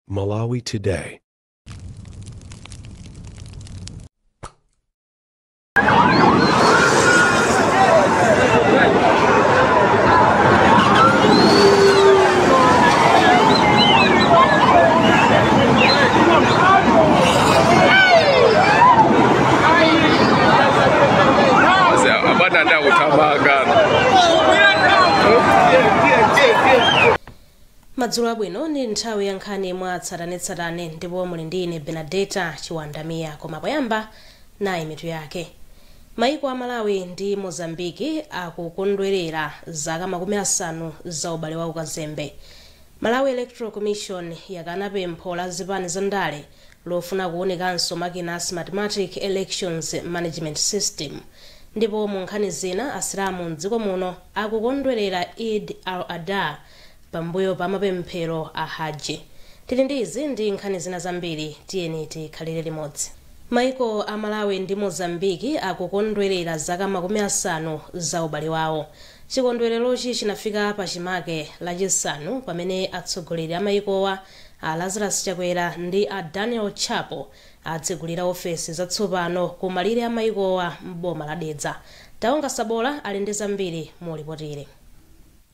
Malawi Today. madzulo abwino ndi nthawi ya nkhani mwa tsatanetsatane ndipo muli ndi ine benadeta chiwanda miya koma poyamba nayi mitu yake maiko a malawi ndi mozambiki akukondwerera zaka makumi asanu za ubale wa ukazembe malawi electoral commission yakana pempho la zipani za ndale lofuna kuunikanso makina a Smartmatic Elections Management System. Ndipo mu nkhani zina, Asilamu m'dziko muno akukondwelera Eid al-Adha pambuyo pa mapemphero a Hajji. Tili ndi izi ndi nkhani zina zambiri, tiyeni tikhalire limodzi. Maiko a Malawi ndi Mozambique akukondwelera zaka makumi asanu za ubale wawo. Chikondwelerochi chinafika pachimake Lachisanu pamene atsogoleri a maikowa A Lazarus Chakwera ndi a Daniel Chapo atsegulira ofesi zatsopano ku malire a maikowa m'boma la Dedza. Taonga Sabola ali ndi zambiri mu lipotili.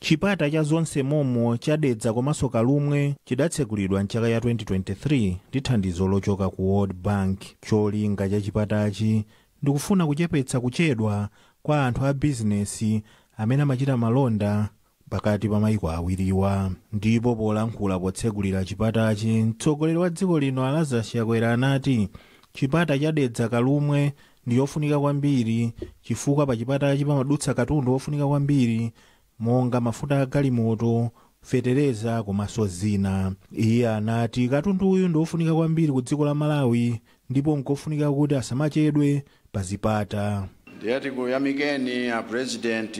Chipata cha Zonse Momo cha Dedza komanso Kalumwe chidatsegulidwa m'chaka ya 2023 ndi thandizo lochoka ku World Bank. Cholinga cha chipatachi ndi kufuna kuchepetsa kuchedwa kwa anthu a bizinesi amene amachita malonda pakati pa maiko awiriwa ndipo polankhula potsegulira chipatachi mtsogoleri wa dziko lino a lazarus chakwera anati chipata cha dedza kalumwe ndi chofunika kwambiri chifukwa pa chipatachi pamadutsa katundu ofunika kwambiri monga mafuta a galimoto fetereza komanso zina iye anati katunduyu ndi ofunika kwambiri ku dziko la malawi ndipo nkofunika kuti asamachedwe pa zipata. Ndiye tikuyamikeni a President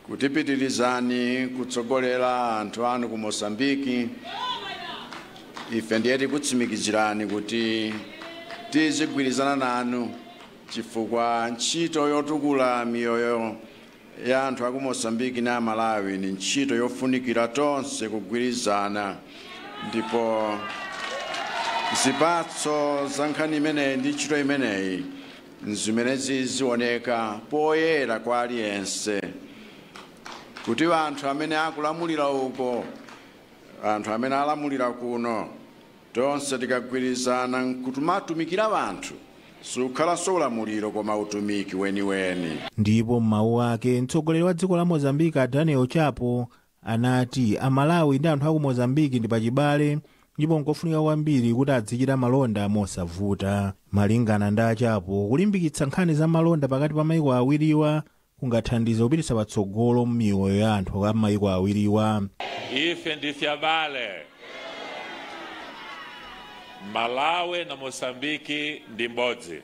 kuti pitilizani kutsogolera anthu anu ku Mozambique, ife ndiye tikutsimikizirani kuti tizigwirizana nanu chifukwa ntchito yotukula miyoyo ya anthu aku Mozambique na Malawi ni ntchito yofunikira tonse kugwirizana, ndipo zipatso za nkhani imeneyi ndi ntchito imeneyi n'zimene zizioneka poyera kwa aliyense kuti anthu amene akulamulira uko, anthu amene alamulira kuno Tonse tikagwirizana n'kumatumikira anthu, sukhalanso ulamuliro koma utumiki weniweni. Ndipo m'mawu ake, mtsogoleri wa dziko la Mozambique a Daniel Chapo anati Amalawi ndi anthu aku Mozambique ndi pachibale ndipo nkofunika kwambiri kuti adzichita malonda mosavuta. Malingana ndi a Chapo, kulimbikitsa nkhani za malonda pakati pa maiko awiriwa kungathandize kupititsa patsogolo miyoyo ya anthu a m'mayiko awiriwa. Ife ndife abale. Malawi na Mozambique ndi mbodzi.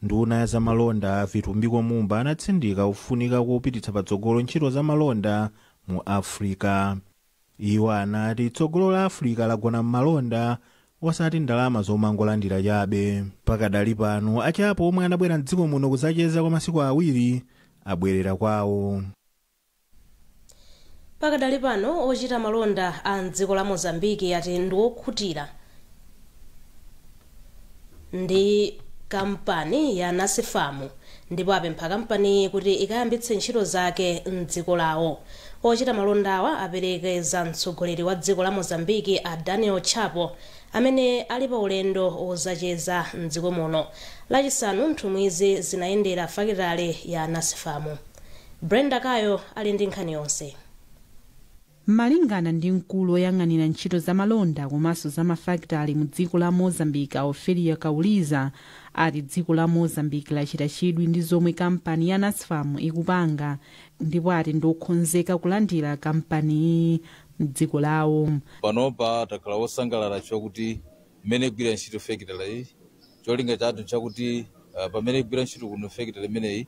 Nduna ya zamalonda Vitumbiko Mumba anatsindika kufunika kopititsa patsogolo ntchito zamalonda mu Africa. Iwo anati tsogolo la Africa lagona m'malonda osati ndalama zomangolandira chabe. Pakadali pano, a Chapo omwe anabwera m'dziko muno kuzacheza kwa masiku awiri, abwerera kwawo. Pakadali pano, ochita malonda a m'dziko la Mozambique ati ndi okhutira. ndi kampani ya Nasfam ndipo apempha kampaniyi kuti ikayambitse ntchito zake m'dziko lawo. Ochita malondawa aperekeza mtsogoleri wa dziko la Mozambique a Daniel Chapo amene ali pa ulendo wozacheza m'dziko muno. Lachisanu nthumwizi zinayendera fakitale ya Nasfam. Brenda Kayo ali ndi nkhani yonse. Malingana ndi mkulu oyang'anira ntchito za malonda komanso za mafakitale mu dziko la Mozambique a Ophelia Kauliza ati dziko la Mozambique lachita chidwi ndi zomwe kampani ya Nasfam ikupanga ndipo ati ndi okhonzeka kulandira kampaniyi mdziko lawo. Panopa takhala osangalala chifukwa kuti mmene igwira ntchito fekitale iyi cholinga chathu nchakuti pamene igwira ntchito kuno fekitale imeneyi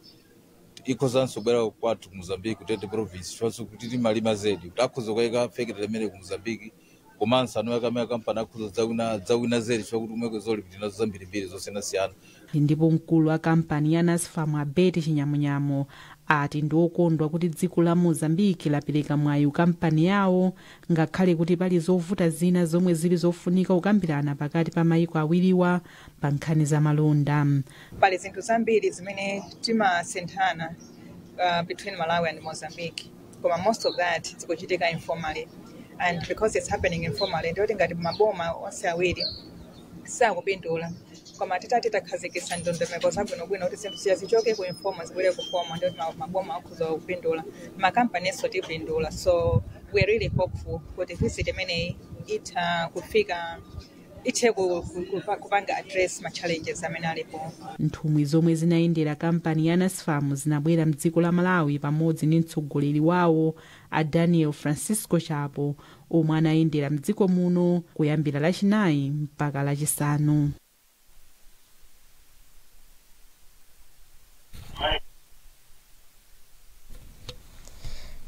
ikhozanso bwera kwathu ku Mozambique ku Tete province chifukwanso kuti timalima zedi kuti akhoza kukayika factory imene ku Mozambique komanso amene akamaya kampani akhoza kudzawina dzawina zedi chifukwa kuti kumweko zolipo tinazo zambirimbiri zosiyanasiyana ndipo mkulu wa kampani ya nasfam a betty chinyamunyamu ati ndi okondwa kuti dziko la mozambique lapereka mwayi kampani yawo ngakhale kuti pali zovuta zina zomwe zili zofunika kukambirana pakati pa mayiko awiriwa pa nkhani za malonda pali zinthu zambiri zimene timasinthana uh, between malawi and mozambique koma most of that zikuchitika informally and because it's happening informally ndiyoti ngati maboma onse awiri sakupindula koma titati takhazikitsa ndondomeko zabwinobwino kuti zinthu ziya zichoke ku informal zibwere ku formal ndiyoti ma- maboma akhoza kupindula makampaninso tipindula so we're really hopeful kuti visit imeneyi itha kufika ithe ku- ku- ku- kupanga address ma challenges amene alipo nthumwi zomwe zinayendera kampani ya nasfam zinabwera mdziko la malawi pamodzi ndi mtsogoleri wawo a daniel francisco chapo omwe anayendera mdziko muno kuyambira lachinayi mpaka lachisanu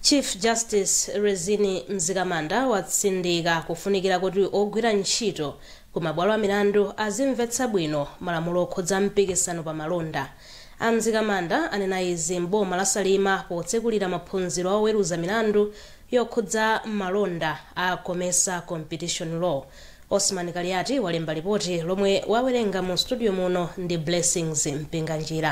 Chief Justice Rizine Mzikamanda watsindika kufunikira kuti ogwira ntchito ku mabwalo a milandu azimvetsa bwino malamulo okhudza mpikisano pa malonda. A Mzikamanda anena izi m'boma la Salima potsekulira maphunziro a oweruza milandu yokhudza malonda a Comesa Competition Law. Osman Kaliati walemba lipoti lomwe wawerenga mu studio muno ndi Blessings Mpinganjira.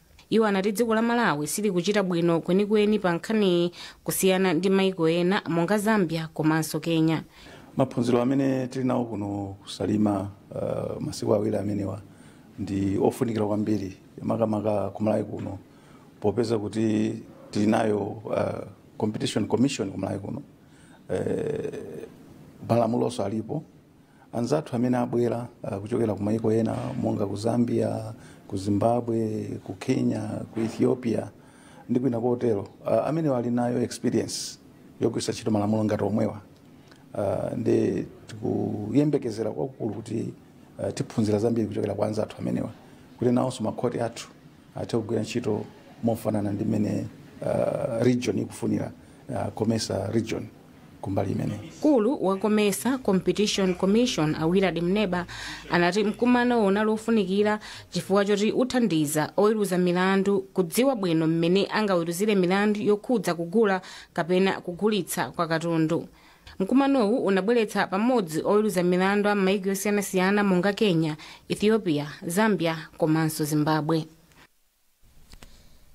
iwo anati dziko la malawi silikuchita bwino kwenikweni pa nkhaniyi kusiyana ndi maiko ena monga zambia komanso kenya maphunziro amene tili nawo kuno kusalima uh, masiku awiri amenewa ndi ofunikira kwambiri makamaka kumalawi kuno popeza kuti tili nayo uh, competition commission kumalawi kuno uh, malamulonso alipo anzathu amene abwera uh, kuchokera ku maiko ena monga ku zambia ku zimbabwe ku kenya ku ethiopia ndi kwina kotero uh, amenewa ali nayo experience yogwiritsa ntchito malamulo ngati omwewa uh, ndi tikuyembekezera kwakukulu kuti uh, tiphunzira zambiri kuchokera kwa anzathu amenewa kuti nawonso makhoti athu athe kugwira ntchito mofanana ndi mmene uh, region ikufunira uh, comesa region kumbali imeneyi mkulu wa comesa competition commission a willard mwemba anati mkumanowo unali ofunikira chifukwa choti uthandiza oweruza milandu kudziwa bwino mmene angaweruzire milandu yokhudza kugula kapena kugulitsa kwa katundu mkumanowu unabweretsa pamodzi oweruza milandu a m'mayiko osiyanasiyana monga kenya ethiopia zambia komanso zimbabwe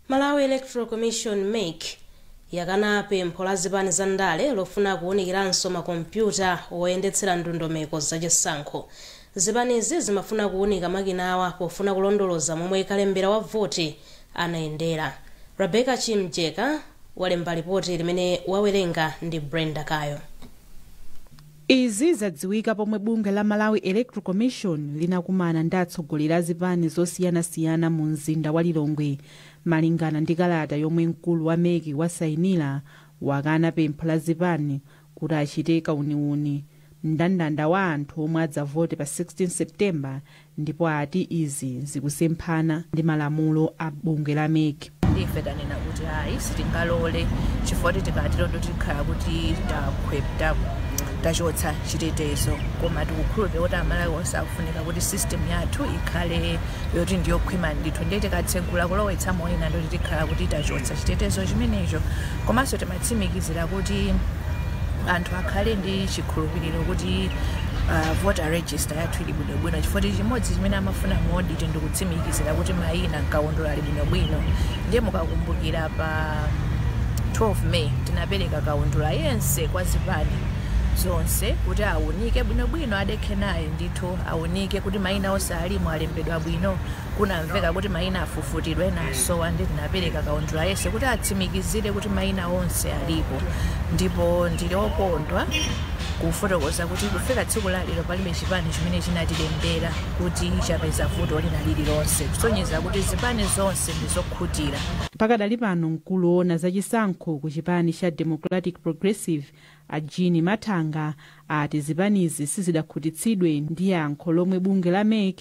Malawi Electoral Commission, mec, yakana pempho la zipani za ndale lofuna kuunikiranso ma kompyuta oyendetsera ndondomeko za chisankho. Zipanizi zimafuna kuunika makinawa pofuna kulondoloza momwe kalembera wa voti anayendera. Rebecca Chimjeka walemba lipoti limene wawerenga ndi Brenda Kayo. Izi zadziwika pomwe bungwe la Malawi Electoral Commission linakumana ndi atsogoleri a zipani zosiyanasiyana mu mzinda wa Lilongwe. Malingana ndi kalata yomwe mkulu wa mec wasainila, wakana pempho la zipani kuti achite kauniuni mndandanda wa anthu omwe adzavote pa 16 September ndipo ati izi zikusemphana ndi malamulo a bungwe la mec. ife tanena kuti ayi sitingalole chifukwa kuti tikatero ndiye tikhala kuti tachotsa chitetezo koma tikukhulupirira kuti amalawi onse akufunika kuti system yathu ikhale yoti ndiyokhwima ndithu ndiye tikatsegula kulowetsa moyina ndoti tikhala kuti tachotsa chitetezo chimenecho komanso timatsimikizira kuti anthu akhale ndi chikhulupiriro kuti uh, voter Rejista yathu ili bwinobwino chifukwa choti chimodzi chimene amafuna mu audit ndi kutsimikizira kuti mayina m'kaundula ali bwinobwino. Ndiye mukakumbukira pa 12 May tinapereka kaundula yense kwa zipani zonse kuti aunike bwinobwino, adekhe naye ndithu, aunike kuti mayina onse alimo alembedwa bwino. Kunamveka kuti maina afufutidwa ena asowa nde tinapereka kaundula yense kuti atsimikizire kuti maina onse alipo ndipo ndili okondwa kufotokoza kuti kufika tsiku la lero palibe chipani chimene chinatilembera kuti chapeza vuto lina lililonse kusonyeza kuti zipani zonse ndi zokhutira Pakadali pano mkulu owona za chisankho ku chipani cha Democratic Progressive a Jean Mathanga ati zipanizi sizidakhutitsidwe ndi yankho lomwe bungwe la mec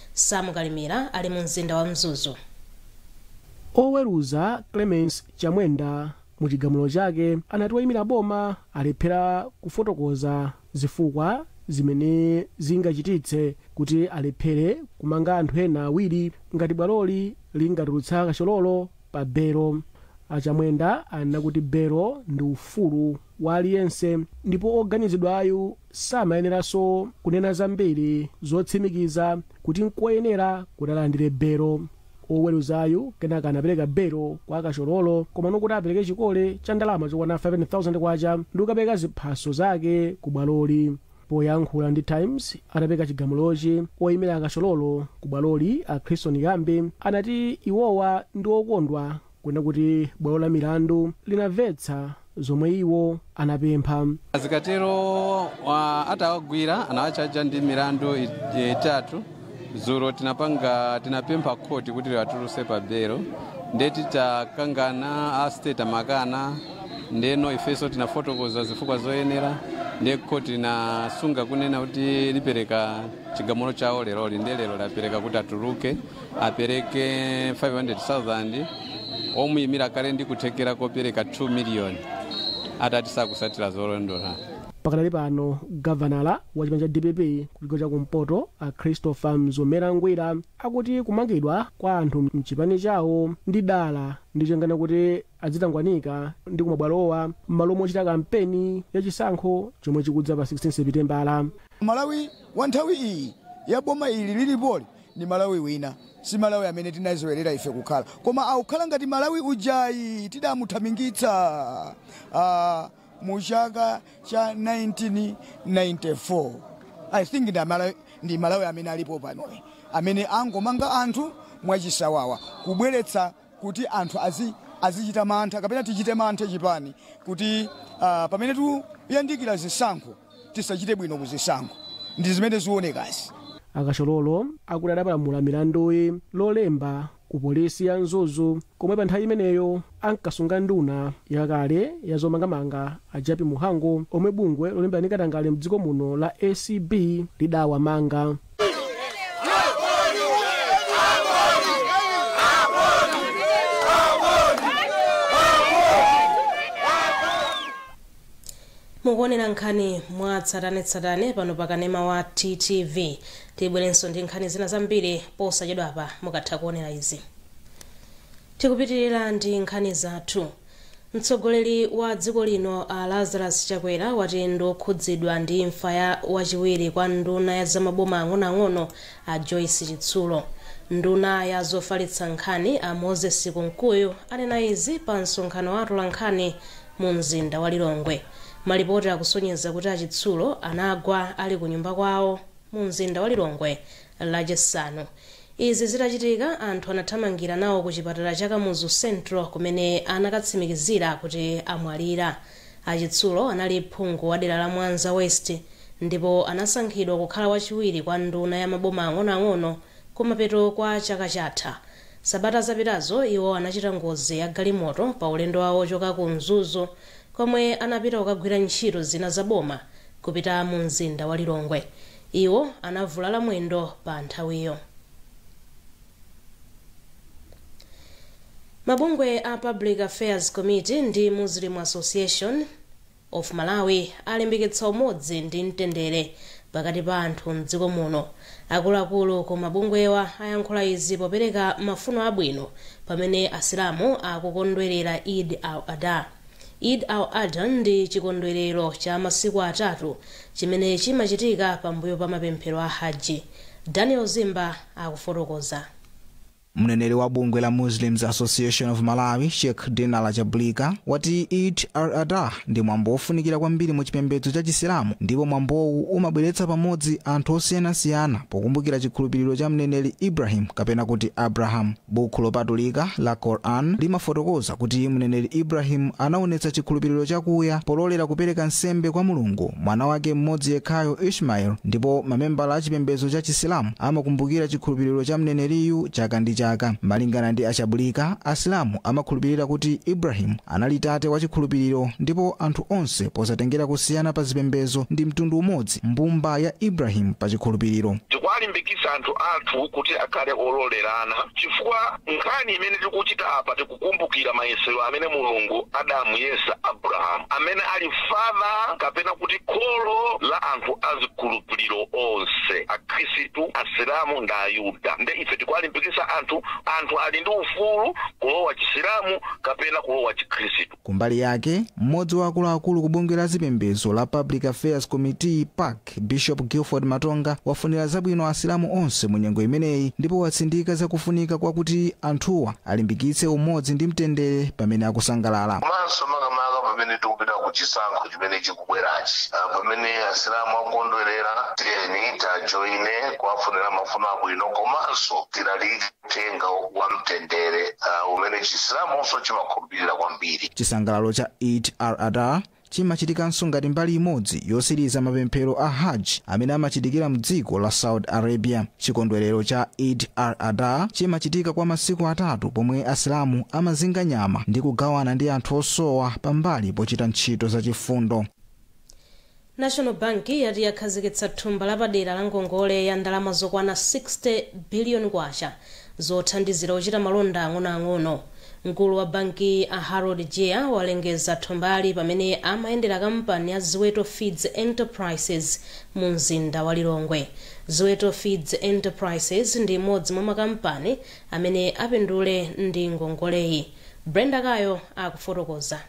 Sam Kalimira ali mu mzinda wa Mzuzu. Oweruza Clemence Chamwenda mu chigamulo chake anati oyimira boma alephera kufotokoza zifukwa zimene zingachititse kuti alephere kumanga anthu ena awiri ngati bwaloli lingatulutse a Kachololo pa belo. A Chamwenda anena kuti belo ndi ufulu wa aliyense ndipo oganizidwayu samayeneranso kunena zambiri zotsimikiza kuti n'koyenera kuti alandire belo. Woweruzayu kenaka anapereka belo kwa a Kachololo komano kuti apereke chikole cha ndalama zokwana K5,000 ndi kukapereka ziphaso zake ku bwaloli. Poyankhula ndi Times atapereka chigamulochi, woimira a Kachololo ku bwaloli a Christon Ghambi anati iwowa ndi okondwa Kuona kuti bwalo la milandu linamvetsa zomwe iwo anapempha. A Zikatero wa- atawagwira anawatchaja ndi milandu i- itatu dzulo tinapanga tinapempha khoti kuti liwatuluse pa belo nde titakangana a state amakana ndeno ifenso tinafotokoza zifukwa zoyenera nde khoti linasunga kunena kuti lipereka chigamulo chawo leroli nde lero lapereka kuti atuluke apereke 500,000 omuyimira akhale ndi kuthekera kopereka 2 miliyoni atati sakutsatira zolondola pakadali pano gavanala wa chipani cha dpp kuchigawo cha kumpoto a christopher mzomera ngwira akuti kumangidwa kwa anthu mchipani chawo ndi dala ndi cholinga kuti adzitangwanika ndi kumabwalowa m'malo mochita kampeni ya chisankho chomwe chikudza pa 16 sepitembala malawi wa nthawi iyi ya boma ili lilipoli ndi malawi wina si malawi amene tinaziwerera ife kukhala koma akukhala ngati malawi ujayi tidamuthamangitsa ah, mu chaka cha 1994 i think ndi amalawi, ndi malawi amene alipo panoyi amene angomanga anthu mwachisawawa kubweretsa kuti anthu azi azichita mantha kapena tichite mantha chipani kuti ah, pamene tikuyandikira zisankho tisachite bwino ku zisankho ndi zimene zionekazi a kachololo akuti adapalamula milanduyi lolemba ku polisi ya mzuzu komwe pa nthawi imeneyo ankasunga nduna yakale ya zomangamanga a jappie mhango omwe bungwe lolimbana ndi katangale mdziko muno la acb lidawamanga mukuonera nkhani mwa tsatanetsatane pano pa kanema wa ttv tibwerenso ndi nkhani zina zambiri posachedwapa mukatha kuonera izi tikupitirira ndi nkhani zathu mtsogoleri wa dziko lino a lazarus chakwera wati ndi okhudzidwa ndi imfa ya wachiwiri kwa nduna ya zamaboma ang'onoang'ono a joyce chitsulo nduna ya zofalitsa nkhani a moses kunkuyu anena izi pa msonkhano wa atolankhani mu mzinda wa Lilongwe. Malipoti akusonyeza kuti a Chitsulo anagwa ali ku nyumba kwawo mu mzinda wa Lilongwe lachisanu. Izi zitachitika anthu anathamangira nawo ku chipatala cha Kamuzu Central kumene anakatsimikizira kuti amwalira. A Chitsulo anali phungu wa dera la Mwanza West ndipo anasankhidwa kukhala wachiwiri kwa nduna ya maboma ang'onoang'ono kumapeto kwa chaka chatha. Sabata zapitazo iwo anachita ngozi ya galimoto pa ulendo wawo wochoka ku Mzuzu komwe anapita kukagwira ntchito zina za boma kupita mu mzinda wa Lilongwe. Iwo anavulala mwendo pa nthawiyo. Mabungwe a Public Affairs Committee ndi Muslim Association, of Malawi alimbikitsa umodzi ndi mtendere pakati pa anthu m'dziko muno. Akuluakulu ku mabungwewa ayankhula izi popereka mafuno abwino pamene Asilamu akukondwerera Eid al-Adha. Eid al-Adha ndi chikondwerero cha masiku atatu chimene chimachitika pambuyo pa mapemphero a Hajj. Daniel Zimba akufotokoza. Mneneri wa bungwe la Muslims Association of Malawi, Sheikh Dinala Chabulika, wati Eid al-Adha ndi mwambo wofunikira kwambiri mu chipembedzo cha Chisilamu ndipo mwambowu umabweretsa pamodzi anthu osiyanasiyana pokumbukira chikhulupiriro cha mneneri Ibrahim kapena kuti Abraham. Bukhu lopatulika la Quran limafotokoza kuti mneneri Ibrahim anaonetsa chikhulupiriro chakuya pololera kupereka nsembe kwa Mulungu mwana wake mmodzi yekhayo Ishmael ndipo mamembala a chipembedzo cha Chisilamu amakumbukira chikhulupiriro cha mneneriyu chaka ndi chaka. Malingana ndi a Chabulika, Asilamu amakhulupirira kuti Ibrahim anali tate wa chikhulupiriro ndipo anthu onse posatengera kusiyana pa zipembedzo ndi mtundu umodzi mbumba ya Ibrahim pa chikhulupiriro. Tikuwalimbikitsa anthu athu kuti akhale ololerana chifukwa. Nkhani imene tikuchita apa, tikukumbukira mayesero amene Mulungu adamuyesa Abrahamu, amene ali father kapena kuti kholo la anthu a zikhulupiriro onse, Akhristu, Asilamu ndi Ayuda. Nde ife tikuwalimbikitsa anthu, anthu ali ndi ufulu kulowa Chisilamu kapena kulowa Chikhristu. Kumbali yake, mmodzi wa akuluakulu ku bungwe la zipembezo la Public Affairs Committee, pac, Bishop Gilford Matonga wafunira zabwino asilamu onse mu nyengo imeneyi ndipo watsindika za kufunika kwa kuti anthuwa alimbikitse umodzi ndi mtendere pamene akusangalala. Komanso makamaka pamene tikupita ku chisankho chimene chikubwerachi, ah, pamene asilamu akukondwerera, tiyeni tiajoine kuwafunira mafuno abwino komanso tilalike uthenga wa mtendere uh, umene chisilamunso chimakhulupirira kwambiri chisangalalo cha eid al adha chimachitikanso ngati mbali imodzi yosiriza mapemphero a hajj amene amachitikira mdziko la saudi arabia chikondwerero cha eid al adha chimachitika kwa masiku atatu pomwe asilamu amazinga nyama ndi kugawana ndi anthu osowa pambali pochita ntchito zachifundo National Bank yati yakhazikitsa thumba lapadera la ngongole ya ndalama zokwana K60 billion zothandizira ochita malonda ang'onoang'ono. Mkulu wa bankiyi a Harold Jiya walengeza thumbali pamene amayendera kampani ya Ziweto Feeds Enterprises mu mzinda wa Lilongwe. Ziweto Feeds Enterprises ndi imodzi mwa makampani amene apindule ndi ngongoleyi. Brenda Kayo akufotokoza.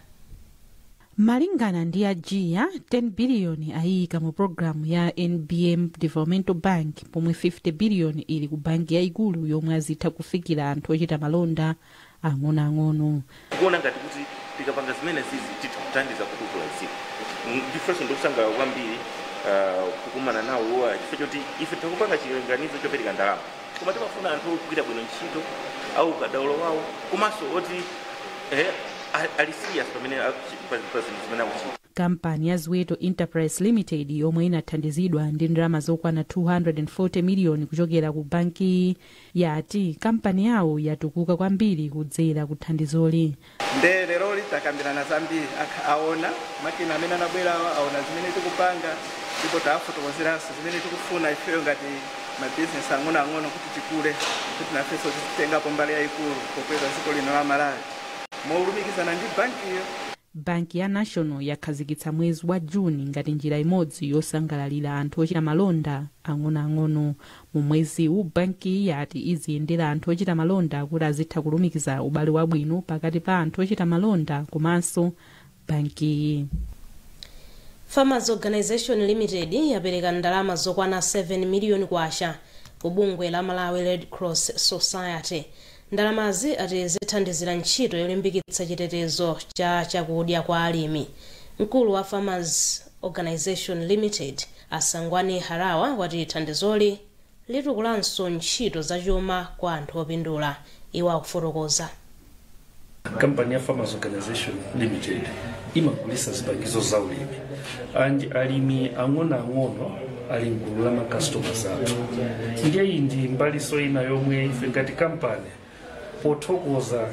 malingana ndi a jiya 10 biliyoni ayiyika mu pulogalamu ya nbm developmental bank pomwe 50 biliyoni ili ku banki yayikulu yomwe azitha kufikira anthu ochita malonda ang'onoang'ono tikuona ngati kuti tikapanga zimenezizi titha kuthandiza kutukula dziko ndifenso ndikusangalala kwambiri ah, kukumana nawo iwowa chifukwa choti ife tikupanga chilinganizo chopereka ndalama koma timafuna anthu ogwira bwino ntchito a ukadaulo wawo komanso oti eh, a- ali serious pamene akuchi- pa pa zinthu zimene akuchita kampani ya ziweto enterprise limited yomwe inathandizidwa ndi ndalama zokwana 240 miliyoni kuchokera ku banki yati kampani yawo yatukuka kwambiri kudzera ku thandizoli Nde leroli takambirana zambiri akh aona makina amene anabwerawa aona zimene tikupanga ndipo tawafotokozeranso zimene tikufuna ifeyo ngati ma business ang'onoang'ono kuti tikule kuti nafenso tizitengapo mbali yaikulu pokweza dziko lino la Malawi molumikizana ndi bankiyo. Banki ya National yakhazikitsa mwezi wa June ngati njira imodzi yosangalalira anthu ochita malonda ang'onoang'ono. Mu mweziwu, bankiyi yati iziyendera anthu ochita malonda kuti azitha kulumikiza ubale wabwino pakati pa anthu ochita malonda komanso bankiyi. Farmers Organisation Limited yapereka ndalama zokwana 7 million kwacha ku bungwe la Malawi Red Cross Society. Ndalamazi ati zithandizira ntchito yolimbikitsa chitetezo cha chakudya kwa alimi. Mkulu wa Farmers Organisation Limited, a Sangwani Hara, wati thandizoli litukulanso ntchito zachuma kwa anthu opindula. Iwo akufotokoza. kampani ya farmers organization limited imagulisa zipangizo za ulimi and alimi ang'onoang'ono ali mgulu la macustomers athu ndiye iyi ndi mbaliso ina yomwe ife ngati kampani pothokoza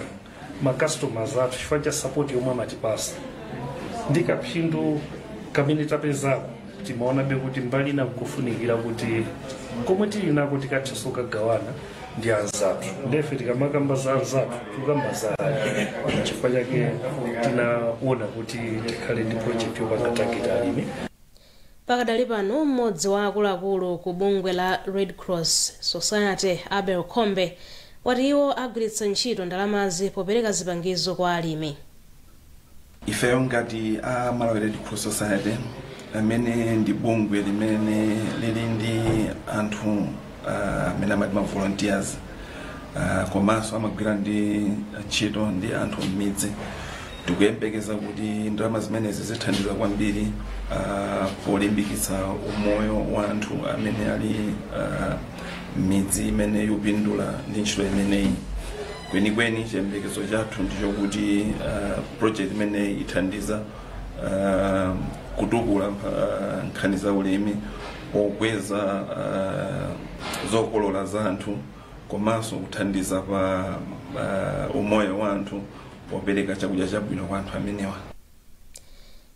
macustomers athu chifukwa cha sapoti yomwe amatipasa ndi kaphindu kamene tapezako timaonabe kuti mbali ina kukufunikira kuti komwe tili nako tikathenso kukagawana ndi anzathu nde ife tikamakamba za anzathu tikukamba za alimi chifukwa chake tinaona kuti tikhale ndi project yopanga target alimi pakadali pano mmodzi wa akuluakulu ku bungwe la red cross society abel khombe wati iwo agwiritsa ntchito ndalamazi popereka zipangizo kwa alimi ifeyo ngati a malawi red cross society amene ndi bungwe limene lili ndi anthu ah, amene amati ma volunteers ah, komanso amagwira ndi ntchito ndi anthu m'midzi tikuyembekeza kuti ndalama zimenezi zithandiza kwambiri ah, polimbikitsa umoyo wa anthu amene ali ah, m'midzi imene yopindula ndi ntchito imeneyi kwenikweni chiyembekezo chathu ndichokuti uh, project imeneyi ithandiza uh, kutukula uh, nkhani za ulimi pokweza uh, zokolola za anthu komanso kuthandiza pa uh, umoyo wa anthu popereka chakudya chabwino kwa anthu amenewa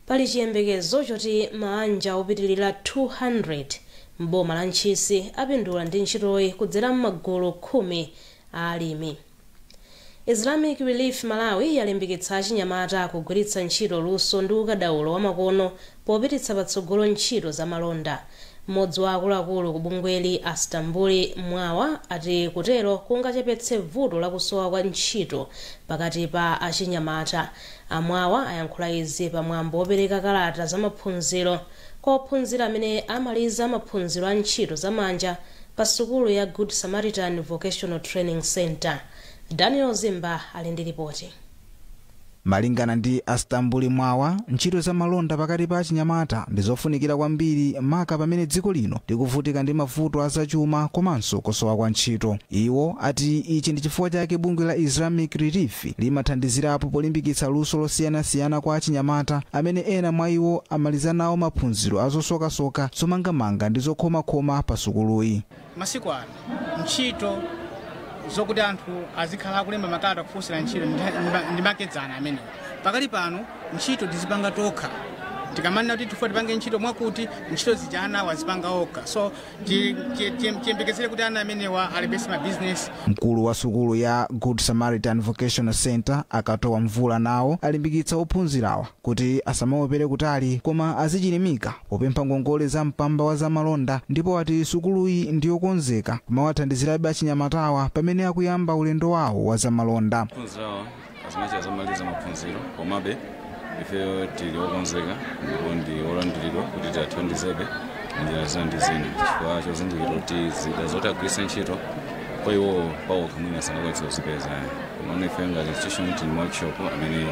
pali chiyembekezo choti maanja opitirira 200 m'boma la ntchisi apindula ndi ntchitoyi kudzera m'magulu khumi a alimi. Islamic Relief Malawi yalimbikitsa achinyamata kugwiritsa ntchito luso ndi ukadaulo wamakono popititsa patsogolo ntchito za malonda. Mmodzi wa akuluakulu ku bungweli a Stambuli Mwawa ati kutero kungachepetse vuto la kusowa kwa ntchito pakati pa achinyamata. A Mwawa ayankhula izi pa mwambo wopereka kalata za maphunziro. Kwa ophunzira amene amaliza maphunziro a ntchito za manja pa sukulu ya Good Samaritan Vocational Training Centre, Daniel Zimba ali ndi lipoti. Malingana ndi a Stambuli Mwawa, ntchito za malonda pakati pa achinyamata ndi zofunikira kwambiri maka pamene dziko lino likuvutika ndi mavuto a zachuma komanso kusowa kwa ntchito. Iwo ati ichi ndi chifukwa chake bungwe la Islamic Relief limathandizirapo polimbikitsa luso losiyanasiyana kwa achinyamata, amene ena mwa iwo amaliza nawo maphunziro a zosokasoka, zomangamanga ndi zokhomakhoma pa sukuluyi. Masiku ano, ntchito zokuti anthu azikhala akulemba makalata kufunsira ntchito ndi makedzana amenewo. Pakali pano, ntchito tizipanga tokha. Tikamanena kuti tifuna tipange ntchito mwakuti, ntchito zija anawo azipanga okha. Ti- ti- ti- tiyembekezere kuti ana amenewa alembetse mabizinesi mkulu wa sukulu ya good samaritan vocational center a katowa mvula nawo alimbikitsa ophunzirawa kuti asamaopere kutali koma azichilimika popempha ngongole za mpamba wa zamalonda ndipo ati sukuluyi ndiyokonzeka kumawathandizirabe achinyamatawa pamene akuyamba ulendo wawo wa zamalonda ophunzirawa azinacha zamaliza maphunziro komabe ifeyo tili okonzeka ndipo ndi olandiridwa kuti tiathandizebe njira zina ndi zina chifukwa chozindikira kuti zida zoti agwiritse ntchito kwa iwowo pawokha mwina sanakwanitsa kuzipeza komano ifeyo ngati institution tili ma workshop amene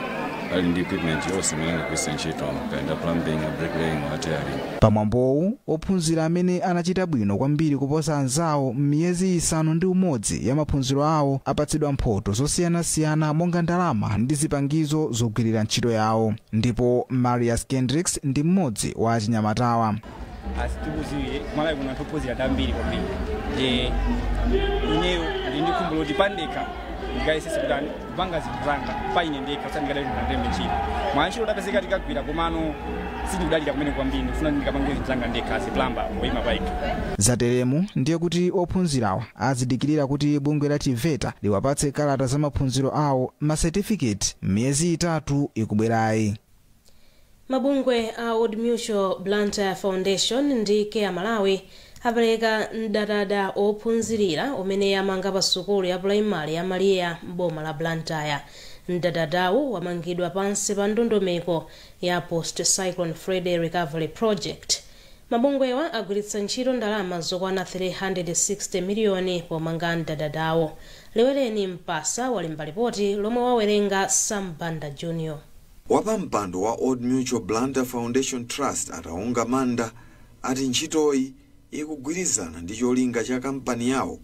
ali ndi equipment yonse imene angagwiritse ntchito kaya ndi a plumbing bricklaying welding Pamwambowu, ophunzira amene anachita bwino kwambiri kuposa anzawo m'miyezi isanu ndi umodzi ya maphunziro awo apatsidwa mphoto zosiyanasiyana monga ndalama ndi zipangizo zogwirira ntchito yawo. Ndipo Marius Kendricks ndi mmodzi wa achinyamatawa. as tikudziwira ku malawi kuno anthu ophunzira ndi ambiri kwambiri nde ineyo ndili ndi khumbo loti pandekha ndikayesese kutani kupanga zinthu zanga pa ine ndekha osati ndikadalire ndikalembedwe ntchito mwantchito tapezeka tikagwira komano sindikudalira kumene kwambiri ndikufuna ndikapange zinthu zanga ndekha as a plumber woyima pa ine zateremu ndiye kuti ophunzirawa azidikirira kuti bungwe la tiveta liwapatse kalata za maphunziro awo masetifiketi miyezi itatu ikubwerayi mabungwe a old mutual blantyre foundation ndi care malawi apereka mdadada ophunzirira umene amanga pa sukulu ya pulaimale ya maria m'boma la blantyre mdadadawu wamangidwa pansi pa ndondomeko ya post cyclone freddy recovery project mabungwewa agwiritsa ntchito ndalama zokwana 360 miliyoni pomanga mdadadawo leweleni mpasa walemba lipoti lomwe wawerenga sam banda junior Wapampando wa Old Mutual Blantyre Foundation Trust a Taonga Manda ati ntchitoyi ikugwirizana ndi cholinga cha kampani yawo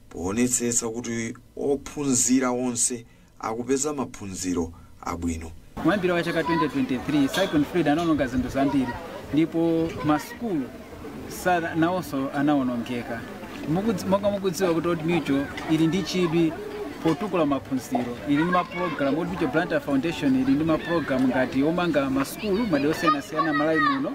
poonetsetsa kuti ophunzira onse akupeza maphunziro abwino. Kumayambiriro kwa chaka 2023, Cyclone Freddy anaononga zinthu zambiri ndipo masukulu Sara nawonso anawonongeka. Mukudz- Monga mukudziwa kuti Old Mutual ili ndi chidwi potukula maphunziro ili ndi mapulogalamu Old Mutual Blantyre Foundation ili ndi mapulogalamu ngati omanga masukulu madera osiyanasiyana Malawi muno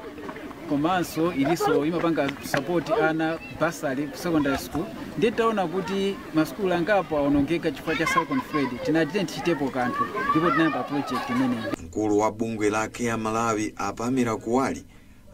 komanso ilinso imapanga support ana basali ku secondary school ndiye titaona kuti masukulu angapo awonongeka chifukwa cha Cyclone Freddy tinati tiyeni tichitepo kanthu ndipo tinayamba project imeneyi mkulu wa bungwe la care malawi a pamela kuwali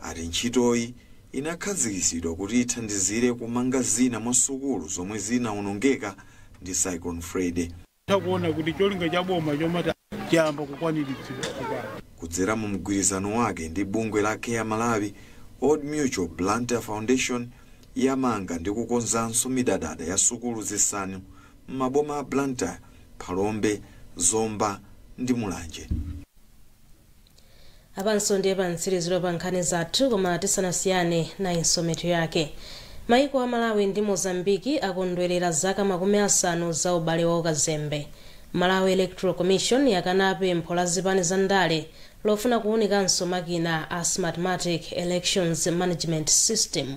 ati ntchitoyi inakhazikitsidwa kuti ithandizire kumanga zina mwa sukulu zomwe zinaonongeka ndi Cyclone Freddy. Titha kuona kuti cholinga cha boma chomati chayamba kukwaniritsidwa tsopano. Kudzera mu mgwirizano wake ndi bungwe la Care Malawi, Old Mutual Blantyre Foundation yamanga ndi kukonzanso midadada ya sukulu zisanu m'maboma a Blantyre, Phalombe, Zomba ndi Mulanje. apanso ndiye pamtsiriziro pa nkhani zathu koma tisanasiyane nayinso mitu yake maiko a malawi ndi mozambiki akondwerera zaka makumi asanu za ubale wa ukazembe malawi electoral commission yakana pempho la zipani za ndale lofuna kuunikanso makina a smartmatic elections management system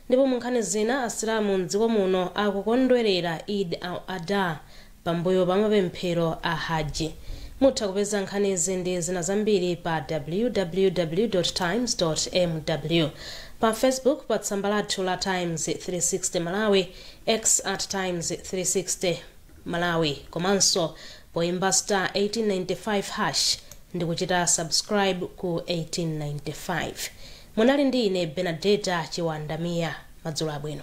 ndipo mu nkhani zina asilamu mdziko muno akukondwerera eid al adha Pambuyo pa mapemphero a Hajj. Mutha kupeza nkhanizi ndi zina zambiri pa www. Times. mw. Pa Facebook pa tsamba lathu la Times 360 Malawi, X at Times 360 Malawi komanso poimba star 1895 hash ndikuchita subscribe ku 1895. Munali ndi ine Benadeta Chiwanda Mia. Madzulo abwino.